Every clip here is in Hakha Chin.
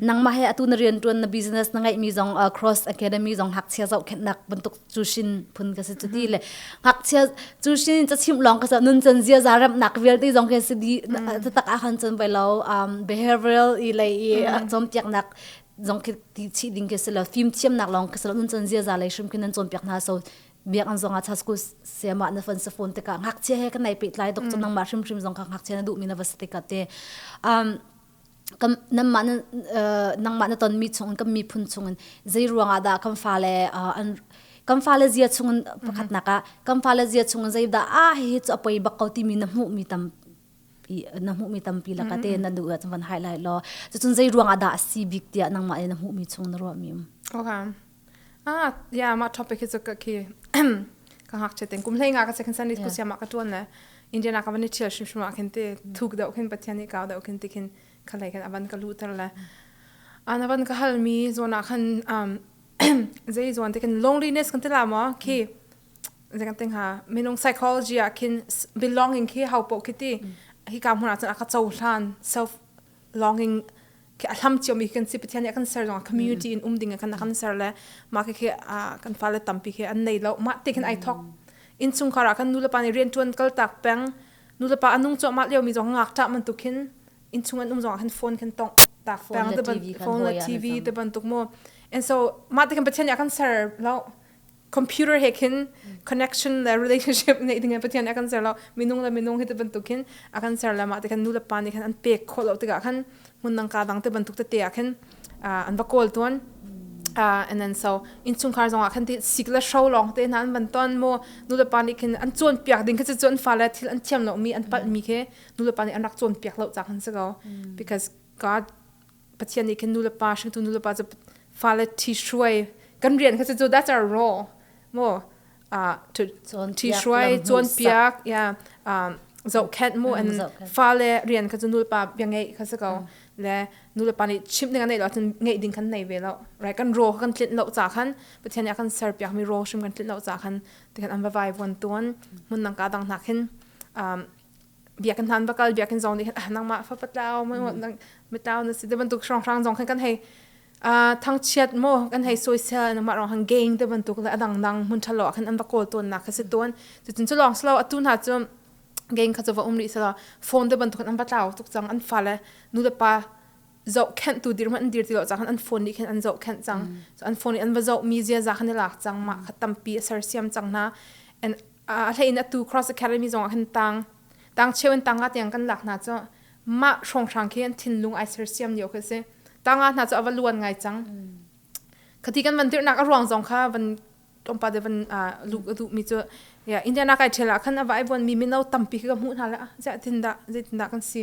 Nangmah he atu na rian ṭuan na business na ngeihmi zong uh, Cross Academy zong ngakchia zoh khennak bantuk cushin phun ka si cuti le ngakchia cushin ca chim lawng ka sa nun chan zia za remnak vialte zong ke si di tak a khan chan vai lo um, behavioral i lei i chom tiaknak zong khi ti chi ding ke si lo thim thiamnak lawng ka si lo nun chan zia za lei hrim kin an cawn piak hna so biakn zong ah cha school sema na fan sa phone te ka ngakchia he kan nai pe tlai dok mm. nang ma hrim hrim zong ka ngakchia na du mi na va sate ka te um kam nam ma na nang ma na ton mi chung kam mi phun chung zai ruanga da kam fa le an kam fa le zia chung pakhat na ka kam fa le zia chung zai da a he chu apoi bak ko ti mi na mu mi tam na hmuhmi tampi laka te na duh ahcun van highlight law cucun zei ruangah dah a si bik tiah nangmah in na hmuhmi chung na ruahmi um okay ah yeah ma topic hi chu ka khi ka hak che ten kum hlei nga ka second sunday school siama ka tuan na indian ka van ni thial shim shima khin te thuk dau khin pathian ni ka dau khin ti khin khalai khin aban ka lu tar la anaban ka halmi zona khan um zai zon te kan loneliness kan tila ma khi zeng ting ha minung psychology ah khin belonging khi hau po khiti hi ka hmuna chan aka cho hlan self longing khi athlam chiom mi kan si pathian ya kan ser jong community in um ding kan kan ser le ma ke khi kan fa le tampi khi an nei lo ma te khin ai thok in chung khara kan nu le pa ni rian tuan kal tak peng nu le pa anung cho ma leo mi jong ngak ta man tu khin in chung an um jong kan phone kan tong ta peng te ban phone la tv te ban tuk mo and so ma te kan pathian ya kan ser lo computer he khin connection le relationship nei ding pathian a kan ser lo minung le minung hi te bantuk hin a kan ser le mah te khan nu le pa nih khan an pek kho lo tikah khan mun nang ka dang te bantuk te te ah khin an va kawl tuan Uh, and then so inchungkhar zongah khan ti sik le shro long te nan ban ton mo nu le pa ni khin an chon piak ding kha chon fa le thil an thiam lo mi an pal mi khe nu le pa ni an rak chon piak lo cha khan se go because god Pathian nih khin nulepa hringtu nulepa cu fale thi hruai kan rian kha cu that's our role mo uh to thi hruai chuan piak ya um zohkhet mu and fale rian kha cu nulepa bia ngei kha se ko le nulepa nih chim ding an nei lo cun ngei ding kan nei ve lo right kan ro kan tlin lo ca khan pathian nih a kan ser piak mi ro hrim kan tlin lo ca khan ti kan an vai vuan tuan mun nang ka dang hna khin um biakin hlan bakal biakin zong nih ah nangmah fa patlau mai nang metau na si te bantuk shrang shrang zong khan kan hei a thangchiat mo kan hei soisel na ma rong han gain te bantuk le adang dang mun thalo khan an bakol ton na kha si ton tu chin chu long slow atu na chu gain kha chu va umri sala phone te bantuk an patlau tuk chang an fa le nu le pa zohkhenhtu dir hmanh an dir ti lo cang an phone nih khin an zohkhenh cang so an phone nih an va zohmi ziaza khan i lak cang mah kha tampi a sersiam cang hna and a hleiin atu cross academy zongah khin tang tang cheu in tanga tiang kan lak hna cu mah hrawnghrang khi an thinlung ai sersiam lio khi si tanga hna cu ava luan ngai cang khati kan van tirnak a ruang zong kha van tlawmpa de van lu ka duh mi cu ya indiana kai thela khan ava ai buan mi mino tampi khi ka hmuh hna la zeitin dah zeitin dah kan si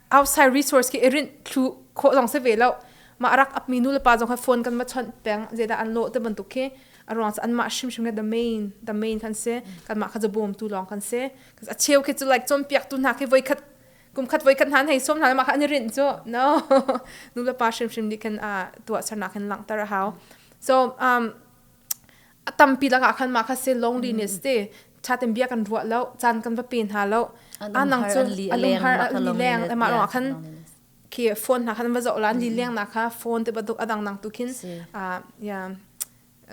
outside resource ke irin thlu kho zong se ve lo ma rak ap mi nu le pa zong kha phone kan ma chon peng je da an lo te bantuk khi arong an ma shim shim the main the main kan se kan ma kha jo bom tu long kan se kas a cheu khi chu like chon piak tu na khi voi khat kum khat voi khat nan hei som na ma kha ani rin chu no nu le pa shim shim ni kan a tua sarna kan lang tar hau so um a tampi lak ah khan mah kha se loneliness te tha ten bia kan ruah lo caan kan va pe hna lo anang cu a lunghar a li leng emma rong khan khi phone na khan va zo lan li leng na kha phone te baduk adang nang tu khin a ya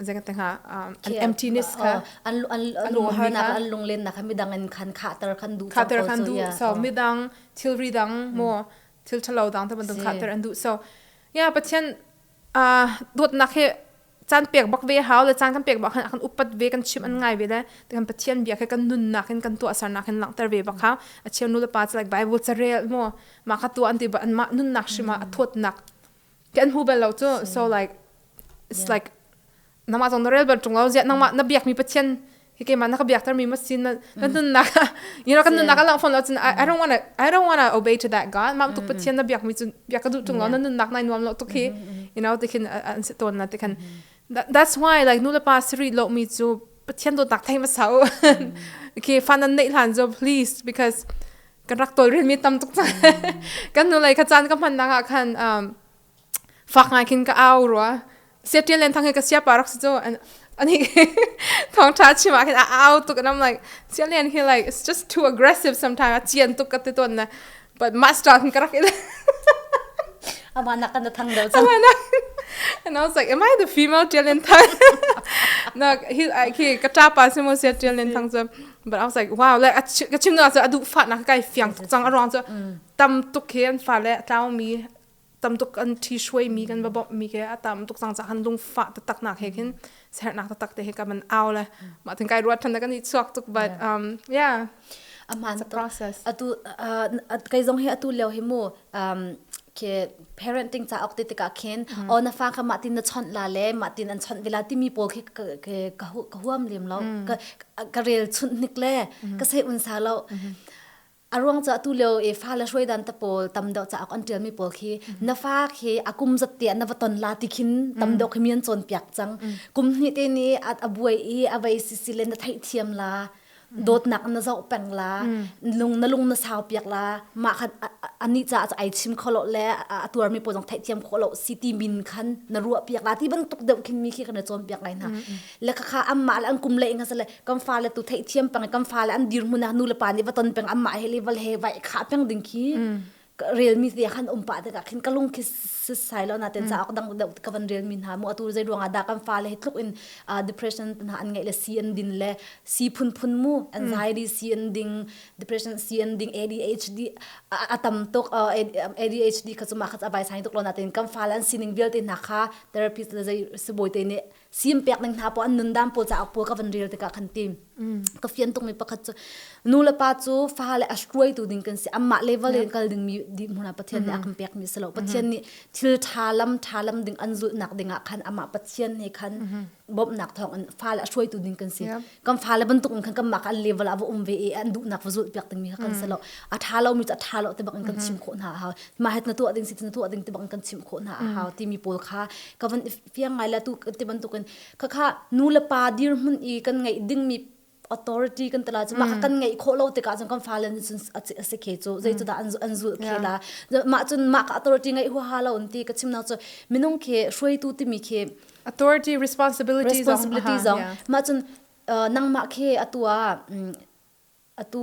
zeng te ha an emptiness kha an an lung har na an lung len na kha midang in khan khater khan du khater khan du so midang thilri dang mo thil thalo dang ta bandung khater an du so ya pathian uh, dawtnak hi caan pek bak ve hau le caan kan pek bak khan kan upat ve kan chim an ngai ve le kan pathian bia khe kan nunnak in kan tuahsarnak in langter ve bak ha a cheu nu le pa chu like bible carel mo ma kha tu an ti ba an ma nunnak shima a thawtnak kan hu bel lo chu so like it's like namah zong na rel bal ṭung lo ziah nangmah na biakmi pathian hi keimah na ka biak termi masin na kan nunnak you know kan nunnak a lang fawn lo cun I don't want to I don't want to obey to that God mah tuk pathian na biakmi cu biak ka duh ṭung lo na nunnak nai nuam lo tuk hi you know tikhin an se tawn na tikhan that's why like nu le pa siri lomi cu pathian dawtnak thei ma sau okay fan an nei hlan zo please because kan rak tolrel mi tam tuk kan nu lai kha chan ka hman nang ah khan um fak ngai khin ka au rua se tian len thang hi ka sia pa rak si cho and ani thong tha chima khin a au tuk and I'm like sian len he like it's just too aggressive sometimes a chian tuk ka te ton na but master khin ka rak ile ama nak kan thang do chang and I was like am I the female tian len thang no he he ka ta pa se mo se tian len thang so but I was like wow like ka chim na so adu fa na kai fiang tuk chang arong so tam tuk he an fa le tlaw mi tamtuk kan thi shuai mi kan va bawmh mi ke a tam tuk cang ca han lung fa taktak nak he khin sernak taktak te he ka man au le ma tin kai ruat than kan i chuak tuk but um yeah aman to atu kai zong he atu leo hi mu um ke parenting cha ok te tika khin o na fa kha ma tin na chon la le ma tin an chon vela ti mi pol khi ke ka huam lem lo ka rel chun nik le ka sei un sa lo aruang cha tu leo e fa la hruai dan ta pol tam deuh cha kon ṭial mi pol khi na fa khi akum zat te na va ton la ti khin tam deuh khi mian chon piak chang kum hni te ni a buai i a vai si si le na thai thiam la dawt nak na zau peng la lung na lung na sau piak la ma khat ani cha cha ai chim kholo le a tuar mi po jong thai thiam kholo si ti min khan na ruwa piak la ti ban tuk deuh khin mi khi kan chon piak lai na le kha amma le an kum le nga sale kan fa le tu thei thiam pang kan fa le an dir mun nu le pa ni va ton peng amma he le val he vai kha peng ding khi relmi te khan um pa te ka khin kalung khi sai lo na ten sa ok dang ka van relmi ha mu atu zai ruanga da kan fa le tluk in depression na an ngai le si an din le si phun phun mu anxiety si an ding depression si an ding ADHD atam tok ADHD ka chuma kha abai sai tok lo na ten kan fa le an sining vialte na kha therapist zai suboi te ne sim pek ning hna pawl an nun dam pawl caah pawl ka van rel tikah khan ti ka fian tung mi pakhat cu nu le pa cu fa le a hruaitu ding kan si amah level in kal ding mi di hmuna pathian nih a kan pek mi silo pathian nih thil tha lam tha lam ding an zulh nak ding ah khan amah pathian he khan bawmhnak thawng in fa le a hruaitu ding kan si kan fa le bantuk in khan kan mah kan level ah va um ve e an duh nak va zulh piak ding mi kha kan silo a tha lo mi cu a tha lo te bak in kan chim khawh hna hau ma het na tuah ding si na tuah ding te bak in kan chim khawh hna hau ti mi pawl kha ka van fiang ngai la tu ti bantukin khakha nu le pa dirhmun i kan ngeih dingmi authority kan tala chu maka kan ngei kho lo tikah cun kan fale ni cun ase khe chu zei chu da an zul khe la ma cun maka authority ngai hu ha lo ti ka chim na chu minung khe hruaitu timi khe authority responsibilities responsibility zong ma cun nangma khe atua atu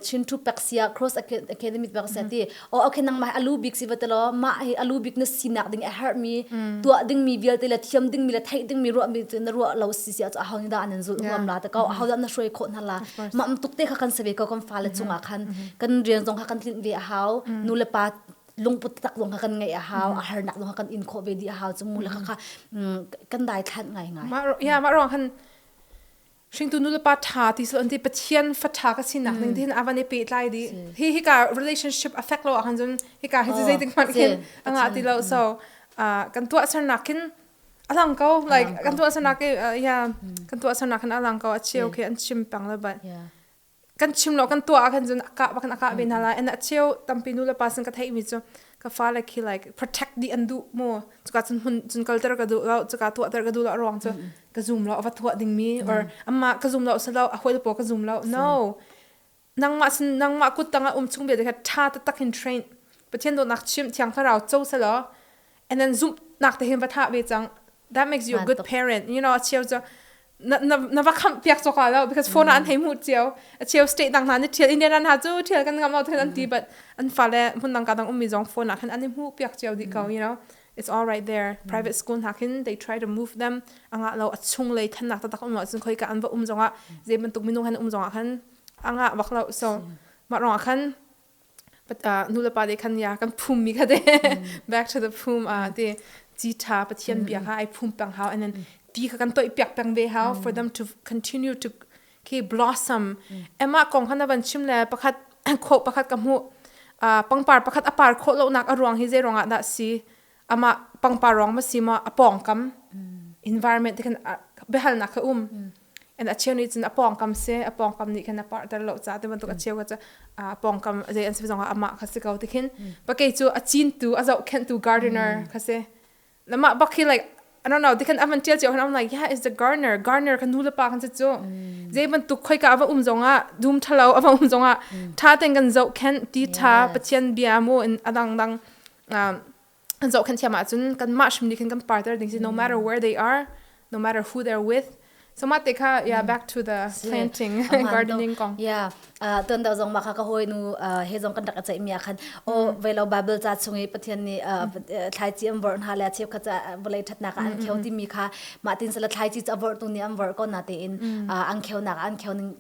chin thu pek sia cross academy bang sa ti o okay nang mai alu big si batelo ma hi alu big na sinak ding a har mi tua ding mi vial te la thiam ding mi la thai ding mi ro mi chu na ro lo si sia chu hong da anan zul ngam la ta ko a hoda na shroi kho na la mam tuk te kha kan sabe ko kom fa le chunga khan kan riang zong kha kan tlin ve a hau nu le pa lungput tak dong kan ngai a hau a har nak dong kan in kho ve di a hau chu mu la kha kan dai thlan ngai ngai ma ya ma rong han hringtu nulepa ṭha ti sal an ti pathian fa ṭha ka sinak ning tin avan i pehtlai di hi hika relationship affect lo ahkhan cun hika hi cu zeitik hmanh khin anga ti lo so kan tuahsernak khin a lang ko like kan tuahsernak i yeah kan tuahsernak khin a lang ko a cheu khi an chim pang lo but kan chim lo kan tuah ah khan cun a kah bak in a kah ve hna lai and a cheu tampi nu le pa sin ka theihmi cu ka fale khi like protect dih an duh maw cuka cun hun cun kalter ka duh lo cuka tuahter ka duh lo ruang cu ka zum lo a va tuah dingmi or amma ka zum lo si lo a hoi le paw ka zum lo no nangmah sin nangmah kuttang ah um chung ve te kha tha taktak in train pathian dawtnak chim thiang thlarau co selaw And then zumh nak te hin va tha ve cang that makes you a good parent you know a cheu cu na na na va kham piak cho ka lo because phone an hei mu cheu a cheu state dang na ni thiel India na chu thiel kan ngam out khan an ti but an fa le mun nang ka dang ummi zong phone na khan an mu piak cheu di ko you know it's all right there private school na khin they try to move them anga lo a chung lei than nak ta tak um lo sun khoi ka an va um zonga ze man tuk minu han um zonga khan anga wak lo so ma rong khan But uh, nu le pa de khan ya kan phum mi kha de back to the phum a te chi tha pathian bia kha ai phum pang hau and then ti kha kan toi piak pang ve hau for them to continue to ke blossom emma kong hana van chim le pakhat kho pakhat ka mu uh, pangpar pakhat apar kho lo nak aruang hi zeirong ah dah si Amah pangparwang ma si maw a pawngkam environment te khan biahalnak kha um. And a cheu nih cun a pawngkam si, a pawngkam nih khan a parter lo caah ti bantuk a cheu kha cu a pawngkam zei an si zongah amah kha si ko ti khin. Pa kei cu a cintu, a zohkhenhtu gardener kha si. Na mah bak hi like I don't know, ti khan a van tial cio, and I'm like, yeah, it's the gardener. Gardener kha nu le pa kan si cu. Zei bantuk khoika a va um zongah, dum thalo a va um zongah, tha ten kan zohkhenh, ti tha, Pathian bia mu, in a dangdang zohkhan thiam ahcun kanmah hrimni khan kan partner ding si no matter mm. where they are no matter who they're with so ma te kha yeah back to the planting and gardening kong yeah uh ton da zong ma kha ka hoi nu he zong kan rak chai mia khan o velo bible cha chung i pathian ni thlai chi am vor na la chep kha cha bolai that na ka an kheu ti mi kha ma tin sala thlai chi cha vor tu ni am vor ko na te in ang kheu na ka an kheu ning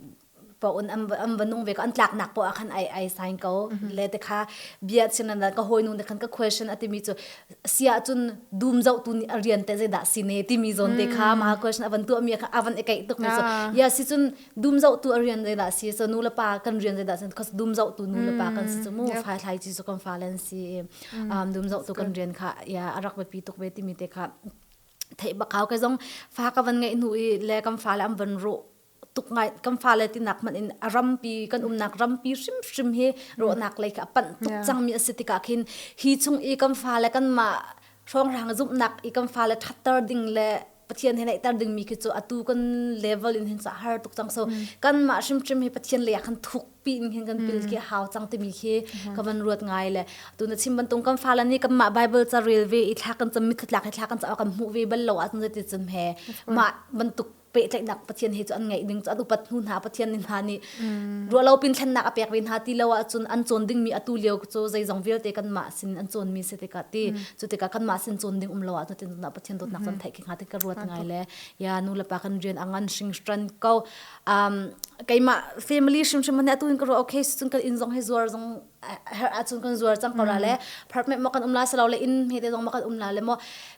po un am am vanung ve ko an tlak nak po a khan ai ai sign ko le te kha bia chin an ka hoi nu de khan ka question ati mi chu sia chun dum zau tu ni arian te je da sine ti mi zon te kha ma question avan tu mi kha avan ekai tuk mi so ya si chun dum zau tu arian de da si so nu la pa kan rian de da sen khos dum zau tu nu la pa kan si chu mu phai thlai chi so kan falen si um dum zau tu kan rian kha ya arak ba pi tuk be ti mi te kha thei ba kaw ke zong fa ka van ngai nu i le kam fa la am van ro tuk ngai kan fale tinak man in a rampi kan umnak rampi hrimhrim hi rawhnak lei ka panh tuk yeah. cangmi asi tikah khin hi chung i kan fale kan ma hrongrang zumhnak i kan fale thatter ding le pathian he naihter dingmi khi cu atu kan level in hin sa har tuk cang so mm. kan ma hrim hrim hi pathian le khan thuk pi in hin kan pil mm. ki hau cang timi khi ka van ruat ngai le tu na chim bantung kan fala ni kan ma bible ca rel ve i thla kan cham mi khatlak hi thla kan cha kan mu ve bal lo a tun ti chim he ma bantuk pehtlaihnak pathian he cu an ngeih ding cu an upat hnu hna pathian nih hna nih mm. ruahlo pin thlennak a pek ve hna ti lo ahcun an cawn dingmi atu lio cu zeizong vialte kanmah sin an cawnmi si tikah ti mm. cu tikah kanmah sin cawn ding um lo ah tutin tunah pathian dawtnak cun mm-hmm. theih khi hnga ti ka ruat ngai le ya nu le pa kan rian angan hringstran ko um, keimah family hrimhrim hne atu in ka ruah okay cun kan in zong he zuar zong her acun kan zuar cang ko la le park me mo kan um la selo le in he te dong ma kan um la le mo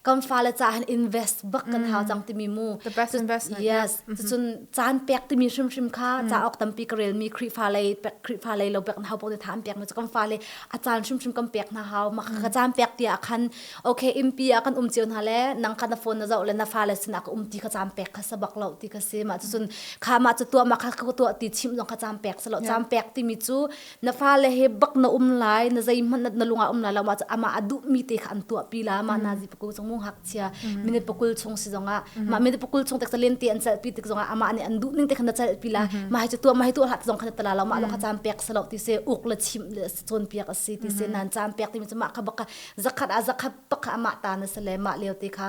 kan fa le cha han invest bak kan hau cang timi mu the best investment yes cun caan pek timi shim shim kha cha ok tampi ka rel mi khri fa lei khri fa lei lo bek na hau po te tham pek na kan fa le a caan shim shim kan pek na hau ma ka caan pek tia akhan okay impi a kan um chiu na le nang ka na phone na zau le na fa le sin ak um ti ka caan pek kha sabak lo ti ka si ma cun kha ma chu tua ma kha ka tua ti chim dong ka caan pek selo caan pek timi chu na fale he bak na um lai na zeihmanh na lungah um lai lo ma amah a duhmi te kha an tuahpi la ma na zi pakul chung mung hak chia minute pakul chung si zongah ma minute pakul chung tak len te an chalpi tik zongah amah nih an duh ning te khan na chalpi la ma hai tua ma hai tua hlat zong khan tala lo ma lo kha chan pek salo ti se uk la chim chon piak asi ti se nan chan pek ti mi mah kha baka zakhat a zakhat pakha amah ta na sale ma leo te kha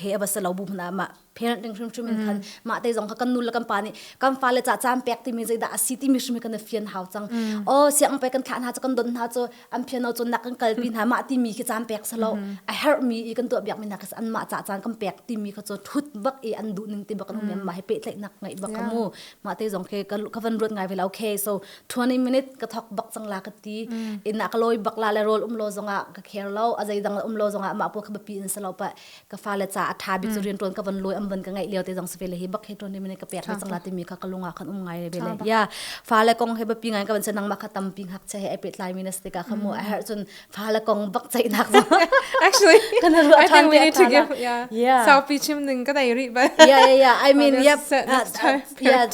he aba se lo bu hna ma parent ding hrim hrim in khan ma te zong kha kan nu le kan pa nih kan fa le cha chan pek ti mi zei dah asi ti mi hrim kan fian hau cang o siang pe kan thlah hna kan don hna cho an phian no chon nak kan kal pi hna ma ti mi khi chan pek sa lo a her mi i kan to biak mi na ka an ma cha chan kan pek ti mi kha cho thut bak i an du ning ti bak an hum ma he pe tlai nak ngai bak mu ma te zong khe ka van ruat ngai ve la okay so 20 minute ka thok bak cang la ka ti mm. ina ka loi bak la le rol um lo zonga ka care lo a zaidang la um lo zonga ma pu ka bapi in salo pa ka fa le cha atha bik zu mm. rin ton ka van loi am ban ka ngai leo te jong spe le hi bak he 20 minute ka pek na cang la ti mi ka ka lunga kan um ngai le bele ya fa le kong he bapi ngai ka ban senang ma ka tam ping hak che he pe tlai minus te ka khamu a har chun fa le kong bak chai nak actually kan ru I think we need to give yeah yeah sao pi chim ning ka dai ri ba yeah yeah yeah I mean yeah yeah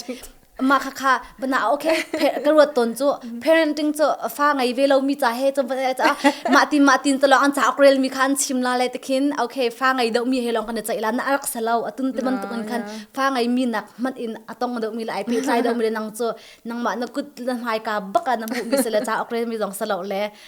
ma kha kha bana okay ka ruat ton chu parenting chu fa ngai ve lo mi cha he chu cha ma tin ma tin to an cha ok rel mi khan chim la le tikhin okay fa ngai deuh mi he long kan chai la na arak selo atun te man tukan khan fa ngai mi nak man in atong deuh mi la ai pe chai deuh mi nang chu nang ma na kut na mai ka baka na mu mi sele cha ok rel mi zong selo le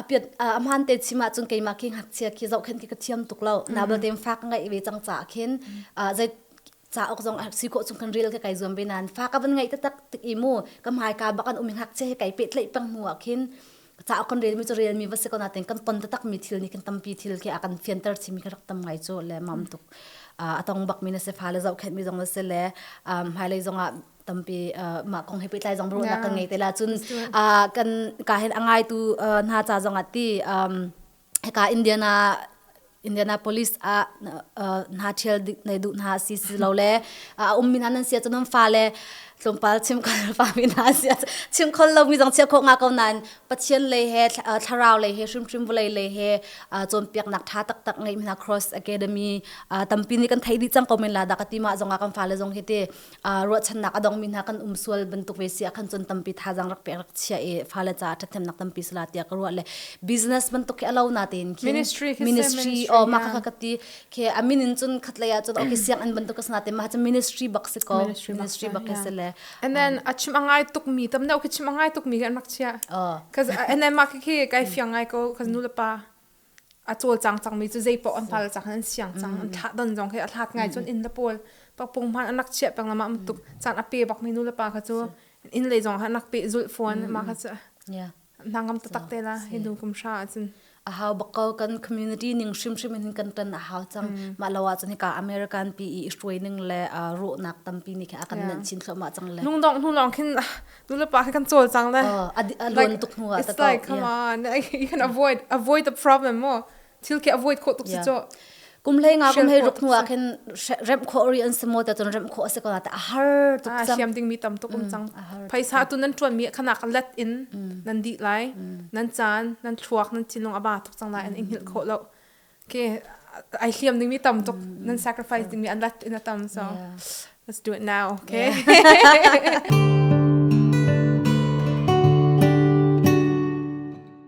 apiat ahmaan te chim ahcun keimah khi ngakchia khi zohkhen khi ka thiam tuk lo na bal tein fa ka ngeih ve cang ca khin zei cauk zong si khawh chung khan reel ka kai zuam ve nan fa ka van ngeih taktak tik i mu ka hmai ka bak an um ngakchia he kai pe tlei peng mu ah khin cauk kan rel mi cu rel mi va se ko na ten kan ton tatak mi thil ni kan tampi thil khi a kan fianter chimi ka rak tam ngai cu le mam tuk a tong bak mi na se fa le zoh khet mi zong na se le hmailei zong ah tampi mah kong he pehtlai zong ruahnak kan ngei te la cun kan ka hen angai tu hna cha zong ati heka Indiana Indianapolis ah hna ṭhial nei duh hna si si lo le a um mi hna nan sia cun fa le tlawmpal chim kan fa mi hna sia chim khol lo mi zong chia kho nga ko nain pathian lei he thlarau lei he hrimhrim vulei lei he cawnpiak nak ṭha taktak ngei mi hna cross academy tampi nih kan thei dih cang ko men la dak ati ma zong ah kan fa le zong hi te uh, ruahchannak a dongmi hna kan um sual bantuk ve si akhan chun tampi thazang rak pek rak chia e fale ca thathemnak tampi sala tia ka ruah le business bantuk ke alo na tein khin ministry ministry o ma ka ka ti ke amin in chun khatlei a chun okay siang an bantuk kasna te ma cha ministry bak se ko ministry bak ke sele and then a chim angai tuk mi tam na ke chim angai tuk mi kan mak chia oh cuz and then ma ke kai fiang ngai ko cuz nu le pa a cawlcang cangmi cu zeipaoh an pal cang an siang cang an thlah don zong khi a thlat ngai cun inn le pawl pakpung hman an rak chiah peng lamah mutuk caan a pe bakmi nu le pa kha cu inn lei zong an rak pe zulh fuan mah kha cu hna ngam tatak te la hi nu kum hra acun a hau bakko kan community ning hrimhrim in kan tan a hau cang mah lo acun hika american pi i hruai ning le ro nak tampi ni kha a kan nan chin thlo ma cang le nung dong hnu lawng khin nu le pa kha kan cawlcang le uh, a, a like, tuk hnu ah it's like come yeah. on you can avoid avoid the problem mo thil ke avoid kho tuk si cho kum le nga kum hei ruk hnu a khin rem kho ri an simo ta tun rem kho ase ko ta har tuk sang siam ding mi tam tuk um chang phaisa tu nan tuan mi khanak let in nan di lai nan chan nan thluak nan chinong aba tuk chang lai an in hil kho lo Okay, ai hliam dingmi tam tuk nan sacrifice dingmi an lat in a tam so let's do it now okay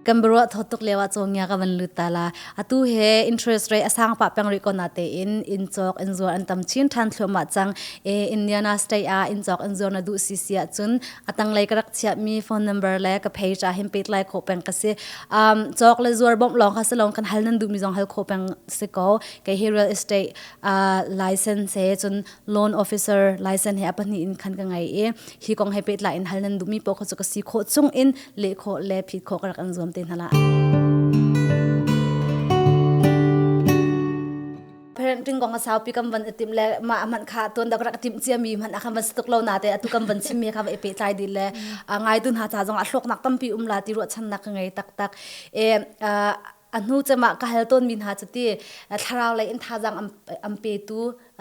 kan barwa thotuk lewa chonga ka van lutala atu he interest rate asang pa pang ri kona te in in chok in zuar an tam chin than thloma chang e indiana state a in chok in zuar na du si sia chun atang lai ka rak chia mi phone number le ka page a him pet lai kho peng ka se um chok le zuar bom long kha salong kan hal nan du mi zong hal kho peng se ko ke hi real estate uh, license he chun loan officer license he apani in khan ka ngai e hi kong he pet la in hal nan du mi po kho chu ka si kho chung in le kho le phit kho ka kan zuam te hnala parenting kong a saupi kan van itim le ma man kha tuan dak rak tim cia mi man khan van situk lo na te atu kan van sim me kha va i pe tlai dil le ngai dun ha ta zong a thlok nak tampi um la ti ru chan nak ka ngei tak tak e a hnu chama ka hal ton min ha chati thlarau le in thazang am pe tu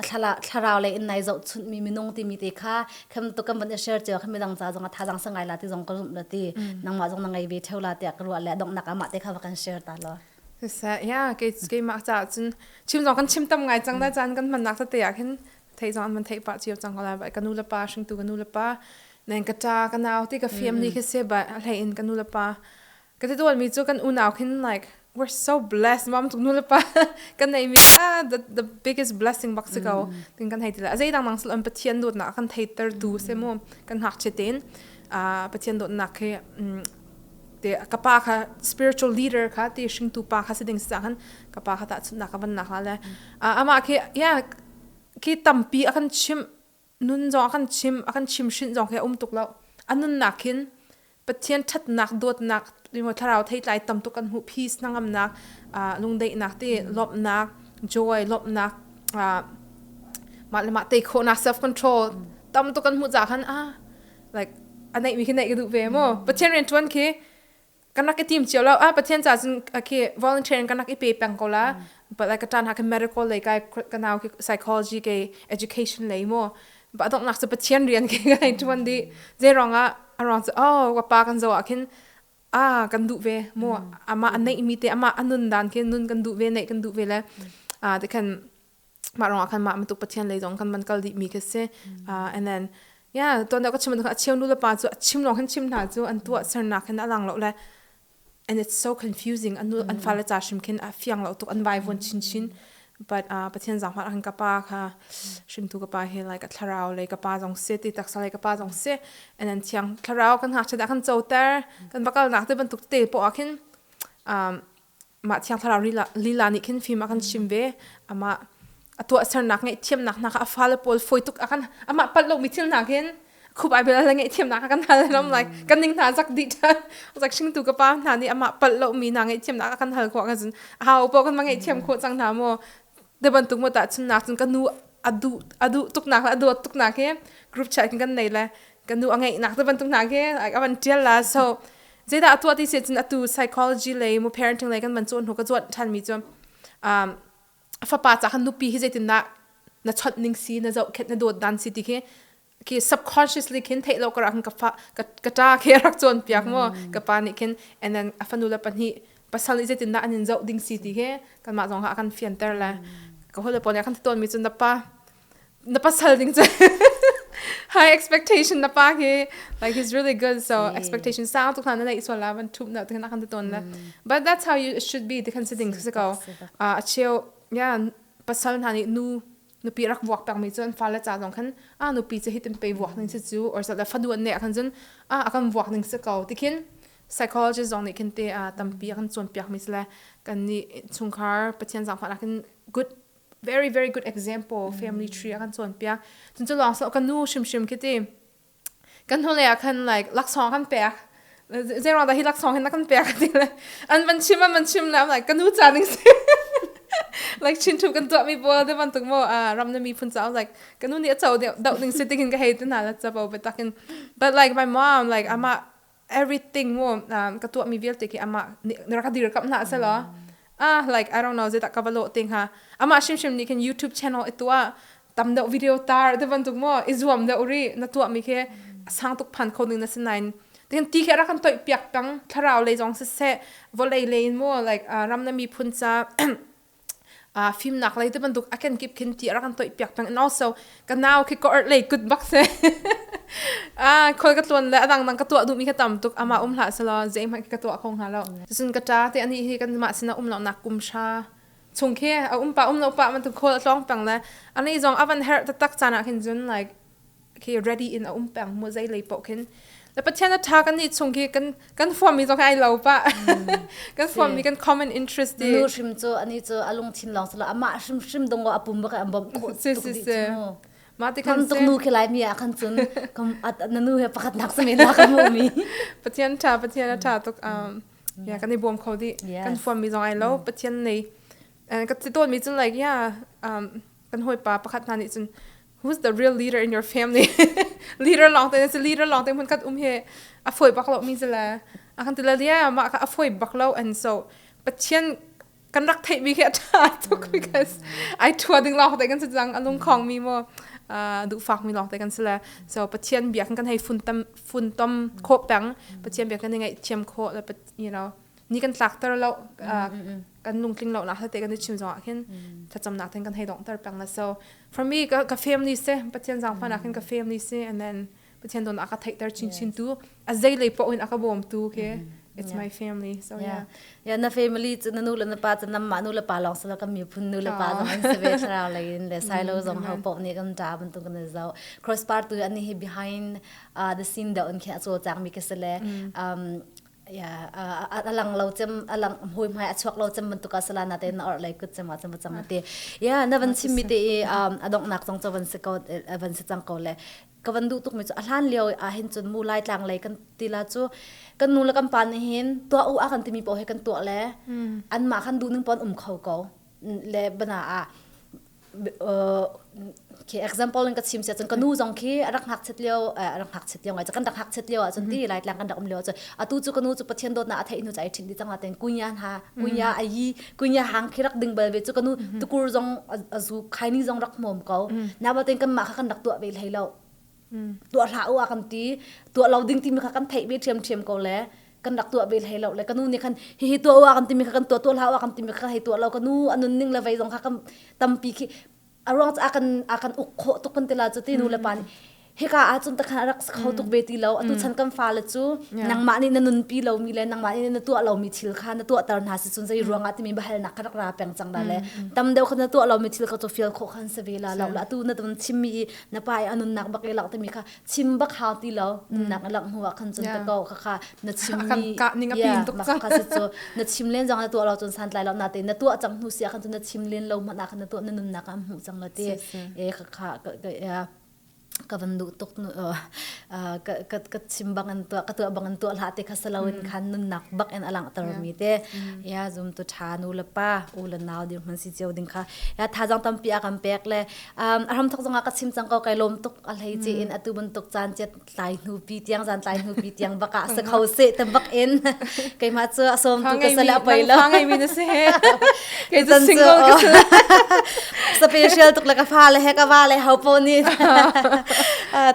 thlala thlarau le in nai zo chun mi minung ti mi te kha kham to kam ban share che kham dang za zong thazang sangai la ti zong ka zum la ti nang ma zong na ngai ve theu la te ka ru le dong nak ama te kha va kan share ta lo Siseh, ia, keimah caah cun chim zong kan chim tam ngai cang da caan kan hmannak tete ah khin theih zong an van theih pah cio cang ko lai. Ka nu le pa, hringtu ka nu le pa, neng ka ṭa, ka nau ti ka family khi si ba a hlei in ka nu le pa. Ka ti dualmi cu kan unau khin like we're so blessed. Mom tuk nu le pa kan neihmi cu ah the the biggest blessing bak si ko tin kan hei ti lai. A zeidang nang sal an Pathian dawtnak a kan theihtertu si mu kan ngakchia tein ah Pathian dawtnak khi te ka pa kha spiritual leader kha ti hringtu pa kha si ding si cangin ka pa kha tahchunhnak ka van nak la le amah khi ya khi tampi a kan chim nun zong a kan chim a kan chim hrin zong khi a um tuk lo a nunnak khin pathian thatnak dawtnak ringo thlarau theitlai tam tuk kan hmuh peace nangamnak lungdeihnak ti lawmhnak joy lawmhnak mah le mah tei khawhnak self control tam tuk kan hmuh ca khan a like a neih mi khi neih ka duh ve maw pathian rian tuan khi kan rak i tim cio lo ah pathian ca cun khi volunteer in kan rak i pe peng ko la but like ka tan ha ke medical lei kai ka nau khi psychology ke education lei mo ba dong nak se pathian rian ke kai tuan di je rong a arong se oh wa pa kan zo a khin a kan du ve mo ama an nei mi te ama anun dan ke nun kan du ve nei kan du ve le a de kan mah rong ah khan mah matuk pathian lei zong khan man kal dih mi khi si uh, and then yeah tuan da ka chim ka achim nu le pa chu achim long khan chim hna chu an tu sernak hin alang lo le and it's so confusing an an fa le cha shim khin a fiang lo tuk an vai von chin chin but uh, pathian zang hmat khan ka pa kha shim tu ka pa he like a thlarau le ka pa zong se ti taksa le ka pa zong se and then thiang thlarau kan ha chada khan choter kan bakal nak te bantuk te po a khin um mah thiang thlarau lila, lila nih khin fim a kan chim ve amah a tuah sernak ngeih thiamnak hna kha a fale pawl foi tuk a kan amah palh lo mi thil hna hin khup ai bel le ngeih thiamnak kan hal ram like kan ning hna zak di ta zak shing tu ka pa hna nih amah palh lo mi hna ngeih thiamnak kan hal ko kan jin a o po kan ma ngeih thiam ko chang hna mo de ban tuk mo ta chun nak chun ka nu adu adu tuk nak adu tuk nak he group chat kan nei le ka nu a ngeih nak te ban tuk na ke like avan tial la so Zeidah a tuah ti si cun atu psychology lei mu parenting lei kan van cuan hnu ka cuan ṭhan mi cu um, fapa ca khan nupi hi zeitindah na chawnh ning si na zohkhenh na dawt dan si ti khi khi subconsciously khin theih lo karak ka fa ka ka ṭa khi rak cawn piak maw ka pa nih khin and then a fanu le pahnih pasal nih zeitindah an in zoh ding si ti khi kanmah zong ha a kan fianter le ka hawile pawl nih a kan ti tawn mi cu na pa na pasal ding cu high expectation na pa hi like he's really good so yeah. expectation sang tu khan na nei sual la van thup na te na kan ton la but that's how you should be ti kan si ding si ko a cheu yeah pasal na ni nu nupi rak vuak tak mi chun fa la cha zong khan a nupi che hitin pe vuak ning si chu or sa da faduan ne kan chun a akan vuak ning si ko tikhin psychologist zong nih khin te a tampi akan chuan piak mi sle kan ni chungkhar pathian zang fa lakin good very very good example family tree a kan cawnpiak cun cu lawng so ka nu hrimhrim khi ti kan hnulei ah khan like laksawng kan pek zeiruang dah hi laksawng hin na kan pek ti le an van chim an van chim le I'm like ka nu ca ning si like chin thu kan tuah mi bol te ban tuk mo a ram na mi phun ca like ka nu nih a cho doh ding si tingin ka hei te na la cha bo be takin but like my mom like ama everything mu um, ka tuah mi vialte khi amah na rak dirkamh hna selaw ah like I don't know zedah ka va lawh te hnga amah hrimhrim nih khin YouTube channel itua tam deuh video tar te bantuk mo i zuam deuh ri na tuah mi khi sang tuk phan kho ning na sinain tin ti khi rakan toi piak kang thlarau lei zong se se volei lei mu like ram na mi phun ca uh, fimnak lei te bantuk a ken kip khin ti ara kan toih piak peng and also ka nau khi ko art lei kut bak se ah khol ka tuan le adang dang ka tua du mi ka tam tuk ama um hla selo zeim ha ka tua khong ha lo sun ka ta te ani hi kan ma sina um lo nak kum sha chung khi a um pa um lo pa man tu khol tong pang le ani zong avan her ta tak chana khin jun like khi ready in a um peng mu zei lei poh khin la pathian a tha kan ni chung khi kan kan form mi zo kai lo pa kan form mi kan common interest di nu hrim cu ani cu alung chin long sala ama hrim hrim dong go apum ba kai ambom ko si si si ma ti kan tuk nu ke lai mi akhan chun kam at nanu he pakhat nak se me la ka mu mi pathian tha pathian a tha tuk um ya kan i bom kho di kan form mi zo ai lo pathian nei ka ti ton mi chun like ya um kan hoi pa pakhat na ni chun who's the real leader in your family leader long te na si leader long te mun khat um he a foi bak lo mi zala a kan tila dia ma ka a foi bak lo and so pathian kan rak thei bi ke tha to because ai thua ding long te kan jang alung khong mi mo du fak mi long te kan sila so pathian bia kan kan hei fun tam fun tom kho pang pathian bia kan ngai thiam kho la you know ni kan tlakter lo kan lungtling lo nak hate kan i chim zong ah khin thlacam nak ten kan hei dong ter plang na so for me ka ka family se pathian zang fa nak khin ka family se and then pathian don aka thei ter chin chin tu a zei lei po in aka bom tu ke it's my family so yeah yeah na family chu na nu le na pa chu nam ma nu le pa long sala ka mi phun nu le pa na man se ve thra lai in le sai lo zong ha po ni kan da ban tu kan zo cross part tu ani hi behind uh, the scene da on khe acho chang mi ke sele um ya a lang lo cem a lang hmui hmai a chuak lo cem bantuk a sala na te na or lei kut cem a cem a cem te ya na van chim mi te i a dong nak zong cho van se ko van se chang ko le ka van du tuk mi chu a hlan lio a hin chun mu lai tlang lei kan tila chu kan nu le kan pa ni hin tua u a kan timi po he kan tua le an ma khan du ning pon um kho ko le bana a khi example in ka chim siah cun ka nu zong khi a rak hngak chet lio a rak hngak chet lio ngai cun kan rak hngak chet lio ah cun ti lai tlang kan rak um lio cun atu cu ka nu cu pathian dawtnak a theih hnu cai ṭhing di tang ten kunya ha kunya a yi kunya hang khi rak ding bal ve cu ka nu tukur zong a zu khaining zong rak mom ko na ba ten kan mah kha kan rak tuah ve hlei lo tuah hla u a kan ti tuah lo ding ti mi kha kan theih ve ṭhiam ṭhiam ko le kan rak tuah ve hlei lo le kanu nih khan hihi tuah wa kan timi kha kan tuah tuah hla wa kan timi kha hei tuah lo kanu anun ning le vei zong kha kan tampi khi aruang ca kan a kan uk kho tuk kan tila cu ti nu le pa nih hika ah cun takhan rak kho tuk ve ti lo atu chan kan fale cu nangmah nih na nunpi lomi le nangmah nih na tuah lomi thil kha na tuah tar hna si cun zei ruang ah timi bahal nak kha rak ra peng cang da le tam deuh kha na tuah lomi thil kha cu fial khawh khan se ve la lo la atu na ton chimmi i na pa i anun nak bak i lak timi kha chim bak hau ti lo nunnak alak hnu ah khan cun ka ko ka kha na chim ni ka ning a pin tuk ka so na chim len jang na tuah lo cun san tlai lo na te na tuah chang hnu sia khan cun na chim len lo ma na khan na tuah na nunnak am hu chang lo te e ka kha ka van du tuk nu ka ka ka chim bang an tua ka tua bang an tua la te khasalo in khan nun nak bak en alang tar mi te ya zum tu tha nu la pa u la naw dir man si cheu ding kha ya tha jang tam pi akam pek le um a ram thok zong ah ka chim cang ko kai lawm tuk a hlei ce in atu bantuk caan che tlai hnu pi tiang zan tlai hnu pi tiang baka se kho se te bak in kai ma chu a som tu ka sala pai lo ngai mi na se kai tu single ka special tuk le ka fa le he ka wa le hau po ni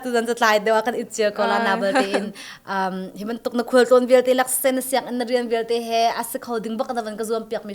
tu zan ta tlai dewa kan itchir ko la na bal te in um himan tuk na khul ton vial te lak sen siang in rian vial te he as kho ding bak da van ka zuam piak mi